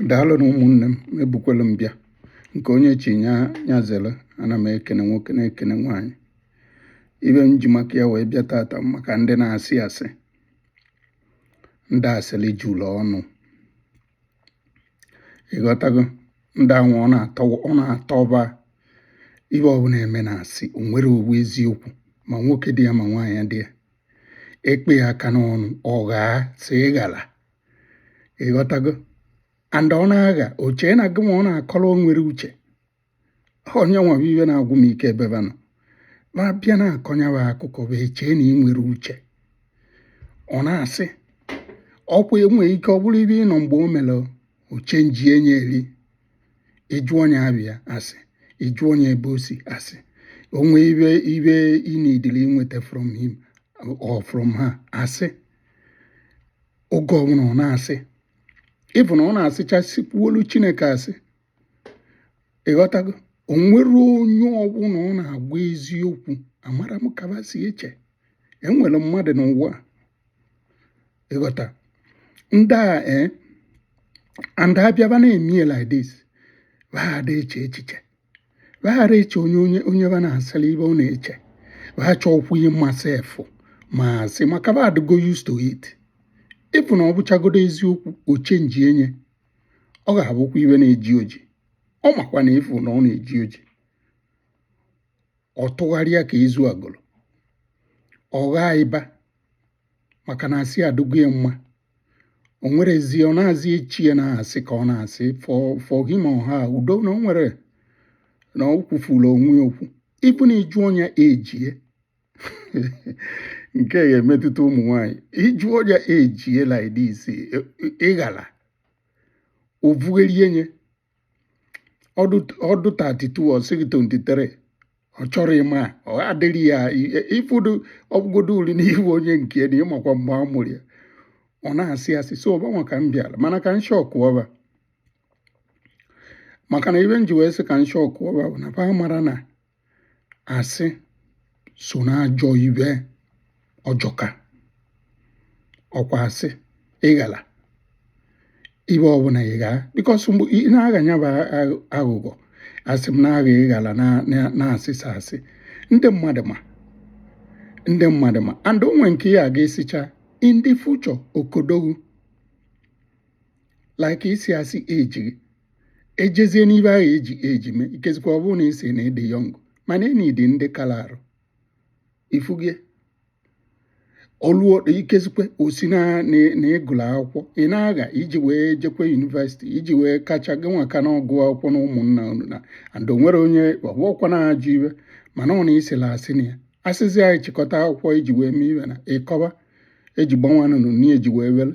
daalụ nụ ụmụnne m ebukwala m bịa nke onye chi nya zere ana m ekene nwoke na-ekene nwaanyị ibe m ji maka ya wee bịa tata maka ndị na-asị asị ndị asịrị juru ọnụ ịghọtago ndị anwa ọ na-atọ ọ na-atọ ba ibe ọbụla eme na asị o nwere o wụ eziokwu ma nwoke dị ya ma nwaanyị dị ya e kpee ya aka n'ọnụ ọ ghaa asị ịghara ịghọtago and ọ na-agha o chee na gị ma ọ na-akọrọ o nwere uche onye nwa bụ ibe na-agwụ m ike ebe ba nọ ma bịa na-akọnyawa akụkọ ba echee na i nwerọ uche ọ na-asị ọkwa enwe ike ọ bụrụ ibe ị nọ mgbe o mere o chenjie nye eri ị jụọ nye aba ya asị ị jụọ nye ebe o si asị o nwee ibe ibe i needili inweta from him or from her asị oge ọbụla ọ na-asị ịfụ na ọ na-asịcha sịkwuolu Chineke asị ịghọtago o nwerọ onye ọbụla ọ na-agwa eziokwu amarọ m ka ba si eche enwerọ mmadụ n'ụwa ịghọta ndị a ee eh, and a bịa ba na-eme like this ba ada eche echiche ba ara eche onye onye onye ba na-asịrị ibe ọ na-eche ba chọọkwa ịma sef ma asị maka ba adịgo used to it ịfụ na ọ bụchagodo eziokwu o chenjie nye ọ ga-abụkwa ibe na-eji oji ọ makwa na ịfụ na ọ na-eji oji ọ tụgharịa ka ezu agụrụ ọ ghaa ịba maka na asị adịgo ya mma o nwere ezi ọ na-azị eche ya na asị ka ọ na-asị for for him or her udo na o nwere na o kwufula onwe ya okwu ịbụ na ị jụọ nye age ye nke ya emetụta ụmụ nwanyị ị jụọ nye age ye like this ịghala o vugherie nye ọ dụ 32 ọ sị gị 23 ọ chọrọ ịma ọ adịrị ya ịfụdụ ọ bụgodo uri n'ihu onye nke na ị makwa mgbe a mụrụ ya ọ na-asị asị so ọbanwa ka m bịara mana ka m shọkụọ ba maka na ibe m ji wee sị ka m shọkụọ ba bụ na ba mara na asị so n'ajọ ibe ọ jọka ọkwa asị ịghala ibe ọbụla ị ghaa because mgbe ị na-agha nya bụ aghụghọ asị m na-agha ịghala na-asịsa asị ndị mmadụ ma ndị mmadụ ma and o nwe nke ị ga-asịcha in the future okodogwu like ịsị asị ejighị ejezie n'ibe ahụ eji eji mee ikezikwa ọ bụrụ na ị sị na ị dị young mana enyi dị ndị kala arụ ifugie ọlụọ ikezikwa ọ sị na ị gụlụ akwụkwọ ị na-agha iji wee jekwa university iji wee kacha gị nwaka na ọgụ akwụkwọ na ụmụnna unu na and o nwere onye ọgwụọkwa na-ajụ ibe mana ọ na ị sila asị na ya asịzi anyị chịkọta akwụkwọ iji wee mee ibe na ịkọba eji gbanwanụnụ na eji wee were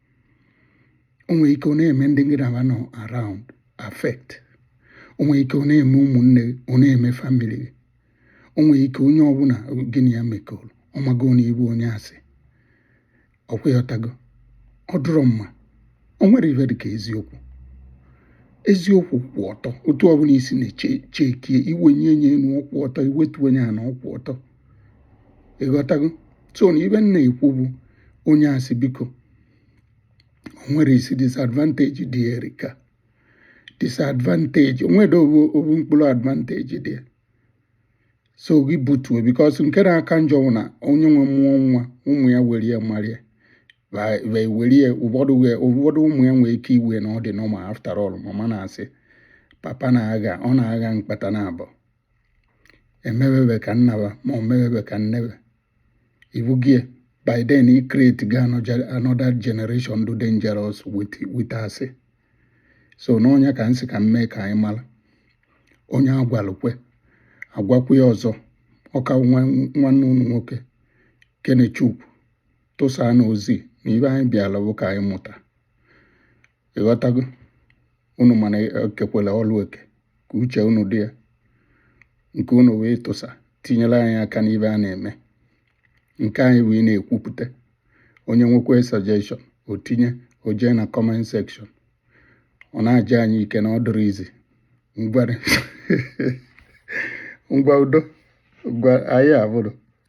o nwere ike ọ na-eme ndị gị na ba nọ around affect o nwere ike ọ na-eme ụmụnne ọ na-eme family gị o nwere ike onye ọbụla gị na ya mekọrọ ọ mago na ị bụ onye asị ọ kwa ị ghọtago ọ dụrọ mma o nwere ibe dị ka eziokwu eziokwu kwụ ọtọ otu ọbụla i si na-echekie i wenye ya enu ọ kwụ ọtọ i wetunye ya ana ọ kwụ ọtọ ị ghọtago so na ibe m na-ekwu bụ onye asị biko o nwerọ isi disadvantage dị ya erika disadvantage o nwerọ obu obu mkpụrụ advantage dị ya so gị butuo because nke na-aka njọ bụ na onye nwa mụọ nwa ụmụ ya were ya mara ya were ya ụfọdụ ụmụ ya nwee ike iwe na ọ dị normal after all mama na-asị papa na-agha ọ na-agha mkpata naabọ emebebe ka nna ba ma ọ mebebe ka nne be ibugie by then i create go another generation dụ dangerous with asị so na ọ nya ka m sị ka m mee ka anyị mara onye agwalụ kwe agwakwu ya ọzọ ọ kwa nwanne unu nwoke kenechukwu tụsaanụ ozi na ibe anyị bịara bụ ka anyị mụta ị ghọtago unu ma na e kekwala ọlụ eke ka uche unu dị ya nke unu wee tụsa tinyere anyị aka n'ibe a na-eme nke anyị wee na-ekwupụta onye nwekwa suggestion o tinye o jee na comment section ọ na-aja anyị ike na ọ dụrọ easy ngwa udo ngwa anyị abụrụ